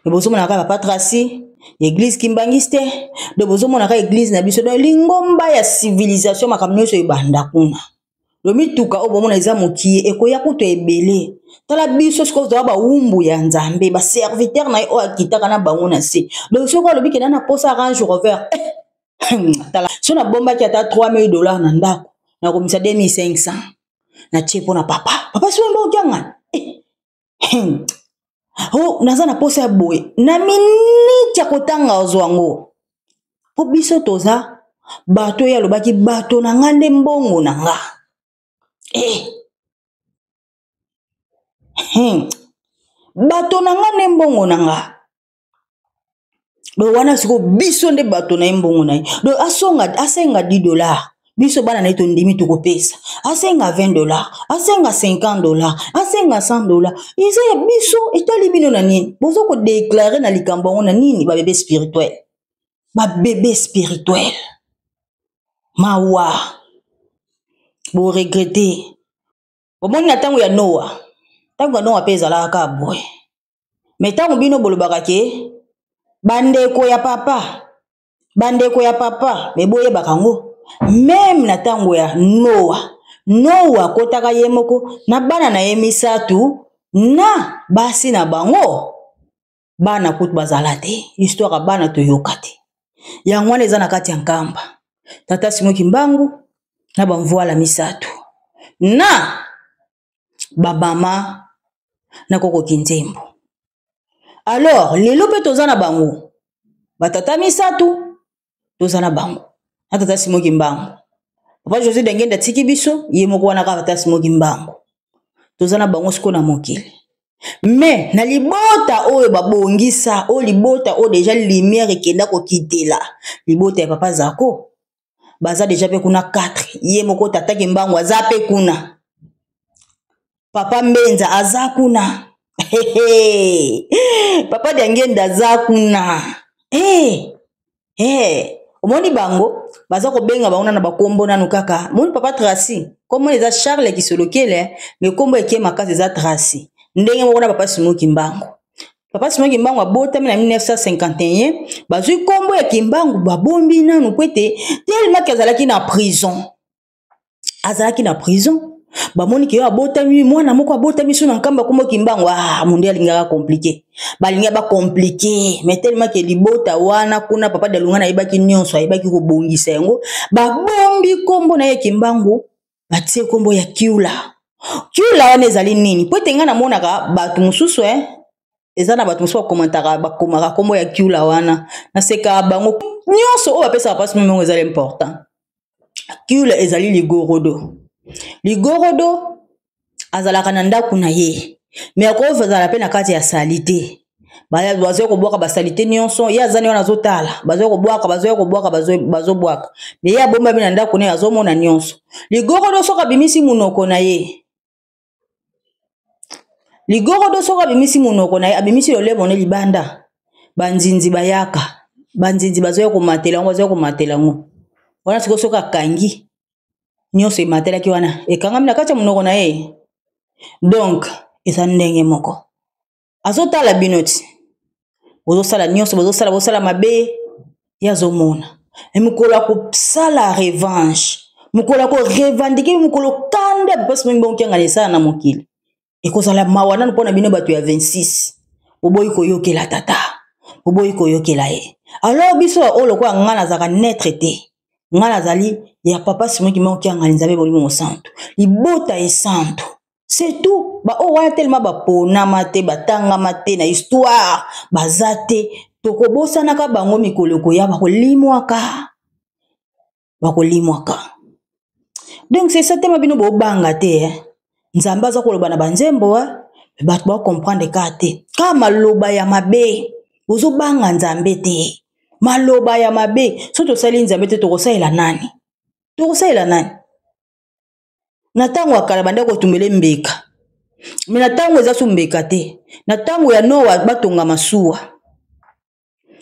me bozomona kaka papa traci eglise kimbangisi te donc bozomona kaka eglise na biso donc lingomba ya civilisation makambo nyonso ebanda kuna lo mituka oyo bomona eza mokie ekoya kutu ebele tala biso sikoyo toza bawumbu ya nzambe baserviteur na ye oyo akitaka na bango na se donc soki alobi kenda na posa arange rover eh, tala so nabombaki ata 3000 dollars na ndako nakomisa 2500 natie mpo na papa papa soki mbokiangani hmm. oh, naza na mposa ya boye na miniti ya kotanga ozwa yango mpo biso toza bato oyo alobaki bato na nga nde mbongo na nga eh. hmm. bato na nga nde mbongo na nga donc wana sikoyo biso nde bato na ye mbongo na ye donc asonga asenga 10 dollar biso bana na ye tondimi tokopesa asenga 20 dollar asenga 50 dollar asenga 100 dollar eza ya biso etali bino na nini boza kodeklare na likambo yango na nini babebe spirituel babebe spirituel mawa boregrete omoni na ntango ya noa ntango ya noa mpe ezalaka kaka boye me ntango bino bolobaka ke bandeko ya papa bandeko ya papa me boyebaka yango meme na ntango ya noa noa akotaka ye moko na bana na ye misato na basi na bango bana kutu bazala te histoire ya bana toyoka te yango wana eza na kati ya nkamba tata simoki mbangu na bamvwala misato na babama na koko kinzembo alors lelo mpe toza na bango batata misato toza na bango na tata simo kimbangu papa josé dengende atiki biso ye moko wana kaka tata simo kimbangu toza na bango sikoyo na mokili me na libota oyo babongisa oyo libota oyo deja lumière ekenda kokitela libota ya papa zako baza deja mpe kuna 4 ye moko tata kimbangu aza mpe kuna papa mbenza aza kuna papa diangenda aza kuna hey, hey. omoni bango baza kobenga bango nana bakombo nanu kaka moni papa tracy kombo eza charles kisolokele me kombo eke makasi eza tracy ndenge moko na papa simoki mbango papa sima kimbangu abotami na 1951 bazwi nkombo ya kimbangu babombi nanu mpo ete telemaki azalaki na prison azalaki na prison bamoni ke yo abotami mwana moko abotami so na nkamba nkombo kimbangu ah, monde alingaka komplike balinga bakomplike mai telemaki libota wana kuna papa dalunga nayebaki nyonso ayebaki kobongisa yango babombi nkombo na ye kimbangu batie nkombo ya kiula kiula wana ezali nini mpo ete ngai namonaka bato mosusu eh? eza na bato mosusu bakomantaka bakomaka nkombo ya kiula wana naseka bango nyonso oyo bapesaka mpasi meme yango ezali important kiula ezali ligorodo ligorodo azalaka na ndako na ye me akozala mpe na kati ya sali te bazoya kobwaka basalite nyonso ye azani wana azotala bazoya kobwaka bazoya kobwaka bazobwaka me ye abombami na ndako naye azomona nyonso ligorodo soki abimisi monoko na ye ligorodo soki abimisi monoko na ye abimisi lolemo ne libanda banzinzi bayaka banzinzi bazoya komatela yango bazoya komatela yango wana sikoyo soki akangi nyonso ematelaki wana ekangami na kati ya monoko na ye donc eza ndenge moko azotala bino ti bozosala nyonso bozosala bosala mabe ye azomona e mokolo ya kosala revanche mokolo ya korevandike mokolo kanda bipasi mingi bokengana esala na mokili ekozala mawa nano mpo na bino bato ya 26 boboyi koyokela tata boboyi koyokela ye alors biso oyo lokola ngai nazalaka netre te ngai nazali ya papa simoki moko kiangani nzambe molimo mosantu libota esantu c'est tout baoyo wana telema baponama te batangama te na histoire baza te tokobosanaka bango mikolo ekoya bakolimwaka bakolimwaka donc c'est ça tema bino bobanga te eh? nzambe aza koloba na banzembo eh? bato bakomprendre kaka te kaka maloba ya mabe ozobanga nzambe te maloba ya mabe soki tosali nzambe te tokosalela nani tokosalela nani na ntango ya kala bandaki kotumbele mbeka me na ntango eza so mbeka te na ntango ya noa batonga masuwa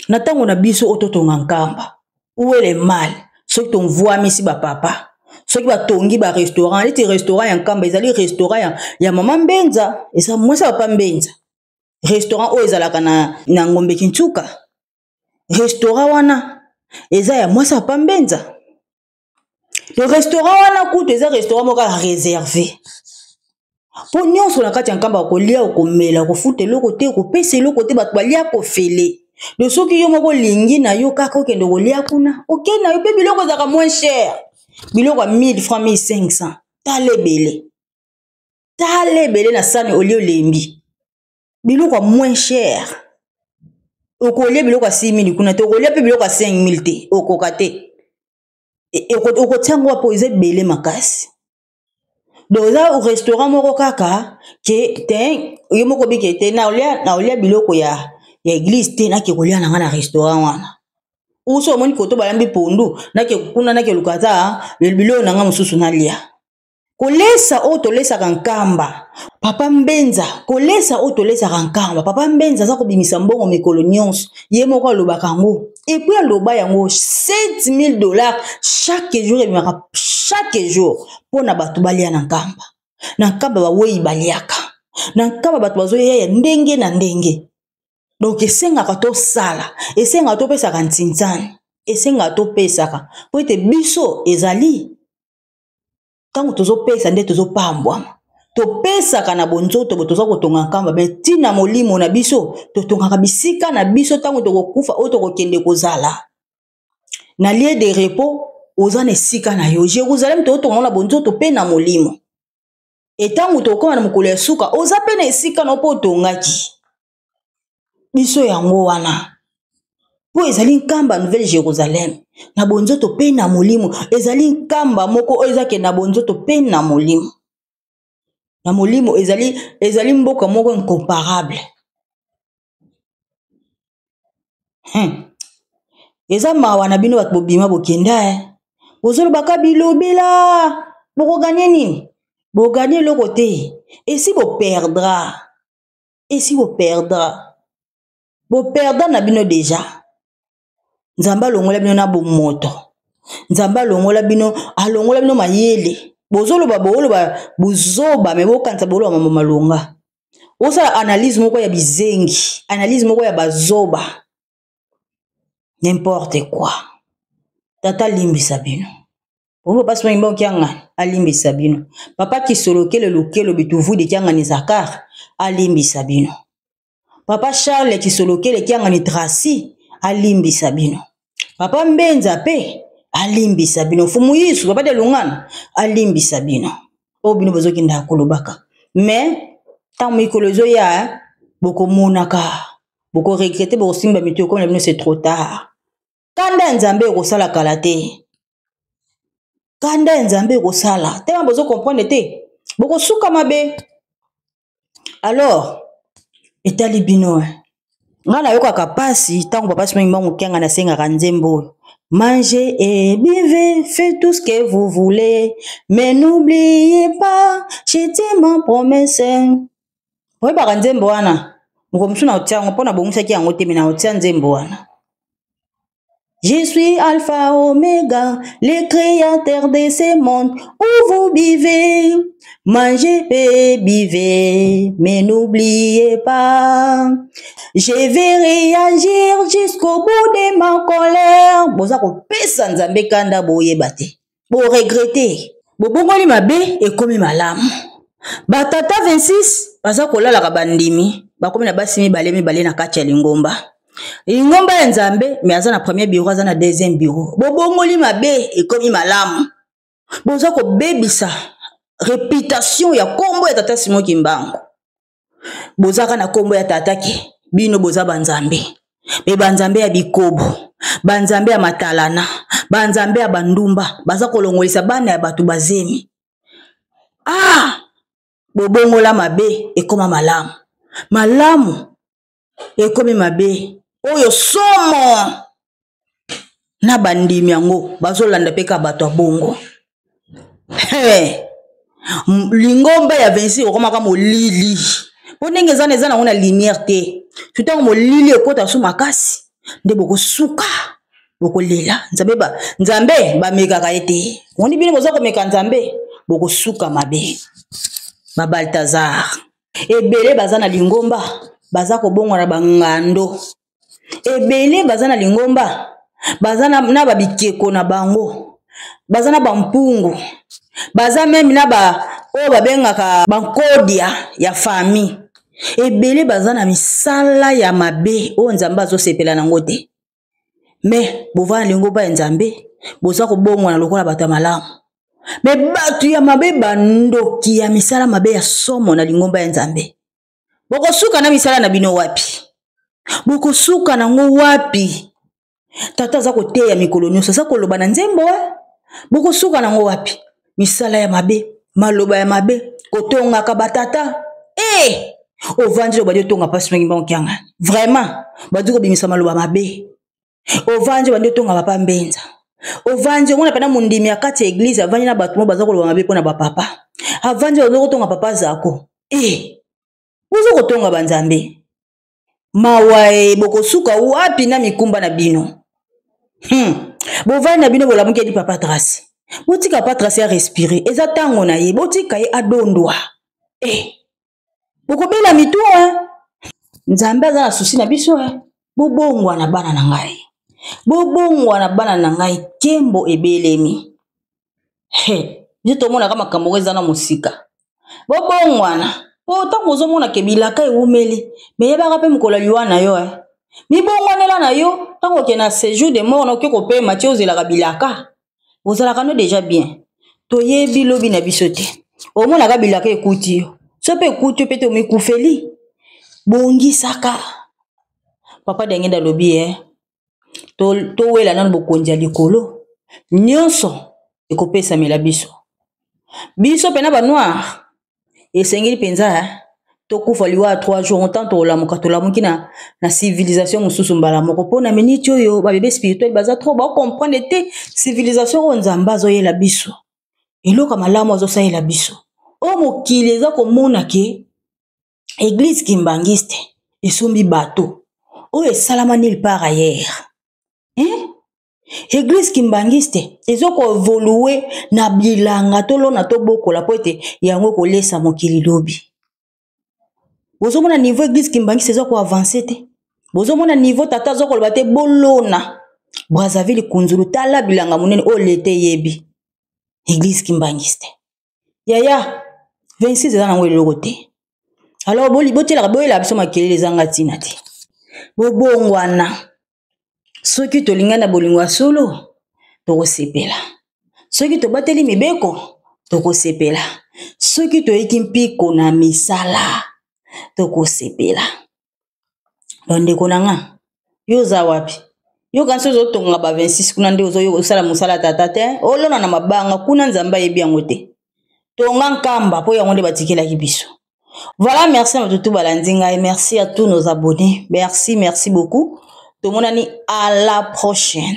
na ntango na biso oyo totonga nkamba uele mal soki tonvwamisi bapapa soki batongi barestaurant neti restaurant ya nkamba ezali restaurant ya, ya mama mbenza eza mwasi ya papa mbenza restaurant oyo ezalaka na, na ngombe kintuka restaurant wana eza ya mwasi ya papa mbenza le restaurant wana kutu eza restaurant moko ya réservé mpo nyonso na kati ya nkamba okolia okomela okofuta eloko te okopesa eloko te bato balia kofele do soki yo moko olingi na yo kaka okende okolia kuna okei na yo mpe biloko ezalaka moins cher biloko ya 1000 franc 1500 tala ebele tala ebele na sani olie olembi biloko ya moins cher okolia biloko ya 6000 kuna te okolia mpe biloko ya 5000 te okoka te e, e, okotia ngo wapo eza ebele makasi donc eza restaurant moko kaka ke te ye moko bike te naolia naolia biloko ya ya eglise te nake kolia na ngai na restaurant wana uso omoni koto balambi pondu nake kuna nake luka ata biloko na ngai mosusu nalia kolesa oyo tolesaka nkamba papa mbenza kolesa oyo tolesaka nkamba papa mbenza aza kobimisa mbongo mikolo nyonso ye moko alobaka yango epui aloba yango 7000 dollars chaque jour ebimaka chaque jour mpo na bato balia na nkamba na nkamba bawei baliaka na nkamba bato bazoya ya ndenge na ndenge donk esengaka tosala esengaka topesaka ntinzani esengaka topesaka mpo ete biso ezali ntango tozopesa nde tozopambwama topesaka na bonzoto bo toza kotonga nkamba me ntina molimo na biso totongaka bisika na biso ntango tokokufa oyo tokokende kozala na lie de repos oza na esika na yo jérusalem tokotonga na bonzoto mpe na molimo etango tokokoma na mokolo ya suka oza mpe na esika na yo mpo otongaki biso yango wana mpo ezali nkamba nouvelle jérusalem na bonzoto mpe na molimo ezali nkamba moko oyo ezake na bonzoto mpe na molimo na molimo ezali ezali mboka moko incomparable hmm. eza mawa na bino bato bobima bokenda e eh. bozolobaka bilobela bokoganye nini boganye eloko te esi boperdra esi bo perdra bo perdra na bino deja nzambe alongola bino na bomoto nzambe alongola bino alongola bino mayele bozoloba booloba bozoba me bokanisa booloba mambo malonga osala analyse moko ya bizengi analyse moko ya bazoba n'importe quoi tata alimbisa bino oyo basi bangi bango kiangani alimbisa bino papa kisolokele lokelo bituvudi kiangani zakar alimbisa bino papa charles kisolokele kiangani tracy alimbisa bino papa mbenza mpe alimbisa bino fumu yesu papa de lungana alimbisa bino oyo bino bozokendaka kolobaka mais ntango mikolo ezoya bokomonaka boko regrete bokosimba mitu ekona bino se trop tard kanda ya nzambe ekosala kala te kanda ya nzambe ekosala tema bozo comprendre te bokosuka mabe alors etali bino eh. ngai nayokaka mpasi ntango papa simangi mbango kianga nasengaka nzembo oyo Mangez et buvez, faites tout ce que vous voulez, mais n'oubliez pas, j'étais ma promesse. oyebaka nzembo wana mokolo mosusu naotia yango mpo nabongisaki yango te me naotia nzembo wana Je suis Alpha Omega, le créateur de ce monde où vous vivez. Mangez et buvez, mais n'oubliez pas. Je vais réagir jusqu'au bout de ma colère. Boza kopesa Nzambe kanda boyeba te. boregrete bobongoli mabe ekomi malamu batata 26 baza kolalaka bandimi bakomi na basi mibale mibale na kati ya lingomba lingomba ya nzambe me aza na premier biro aza na deuxième biro bobongoli mabe ekomi malamu boza kobebisa reputation ya nkombo ya tata simo kimbangu bozaka na kombo ya tata ke bino boza banzambe me banzambe ya bikobo banzambe ya matalana banzambe ya bandumba baza kolongolisa bana ya bato bazemi ah bobongola mabe ekoma malamu malamu ekomi mabe oyo somo na bandimi yango bazolanda mpe kaka bato ya bongo lingomba ya 26 okomaka molili mpo ndenge eza na eza nango na lumière te to ntango molili ekota so makasi nde bokosuka bokolela nzambe ba nzambe bamekaka ye te omoni bino boza komeka nzambe bokosuka mabe babaltazar ebele baza na lingomba baza kobongwa na bangando ebele baza na lingomba baza na, na babikeko na bango baza na bampungu baza meme na ba oyo babengaka bankodia ya famille ebele baza na misala ya mabe oyo nzambe azosepela nango te me bovanda na lingomba ya nzambe boza kobongwana lokola bato ya malamu me bato ya mabe bandoki ya misala mabe ya somo na lingomba ya nzambe bokosuka na misala na bino wapi bokosuka nango wapi tata aza koteya mikolo nyonso aza koloba na nzembo bokosuka nango wapi misala ya mabe maloba ya mabe kotongaka batata e eh! ovandi loba di otonga mpasi mingi mbango kianga vraiment bandi kobimisa maloba mabe ovandi obandi otonga papa mbenza ovandi omona mpena mondimi ya kati ya eglize avandi na bato mo baza koloba mabe mpo na bapapa avandi baza kotonga papa zako e eh! boza kotonga banzambe mawae bokosuka wapi na mikumba na bino hmm. bovandi na bino bolamuki edi papa trace botika papa trace ya respire eza ntango na ye botika ye adondwa e eh. bokobela mitu eh. nzambe aza na susi na biso eh. bobongwa na bana na ngai bobongwa na bana na ngai kembo ebelemi biso tomonaka makambo ngo eza na mosika bobongwana po ntango ozomona ke bilaka ewumeli meyebaka mpe mokolo ya liwa na yo eh. mibongwanela na yo ntango oke na sejour de mort na oke kopema ti ozelaka bilaka ozalaka no deja bien toyebi lobi na biso te omonaka bilaka ekuti yo so mpe ekuti yo mpe te omikufeli bongisaka papa diangenda alobi e eh. towela nanu bokonzi ya likolo nyonso ekopesamela biso biso mpena banoire esengeli mpenza tokufa liwa ya 3 jour ntango tokolamuka tolamuki na, na civilisation mosusu mbala moko mpo na miniti oyo babebe spirituel baza trop bakomprendre te civilisation oyo nzambe azoyela biso eloko malamu azosalela biso oyo mokili eza komona ke eglise kimbanguiste esombi bateau oyo esalama nil par ailleurs hein? eglise kimbanguiste ezokoevolue na bilanga tolona tobokola mpo ete yango ekolesa mokili lobi bozomona niveau eglise kimbanguiste eza koavanse te bozomona niveau tata azokoloba te bolona brazzaville kunzulu tala bilanga monene oyo leta eyebi eglise kimbanguiste yaya 26 eza nango eloko te alors botielaka boyela biso makelele ezanga ntina te bobongwana soki tolingani na bolingo ya solo tokosepela soki tobateli mibeko tokosepela soki toyiki mpiko na misala tokosepela bandeko na nga yo oza wapi yo kanisi ozotonga ba 26 kuna nde ozosala mosala tata te olona na mabanga kuna nzambe ayebi yango te tonga nkamba mpo yango nde batikelaki biso voilà merci na batutu balandi ngai merci à tous nos abonnés merci merci beaucoup tomonani à la prochaine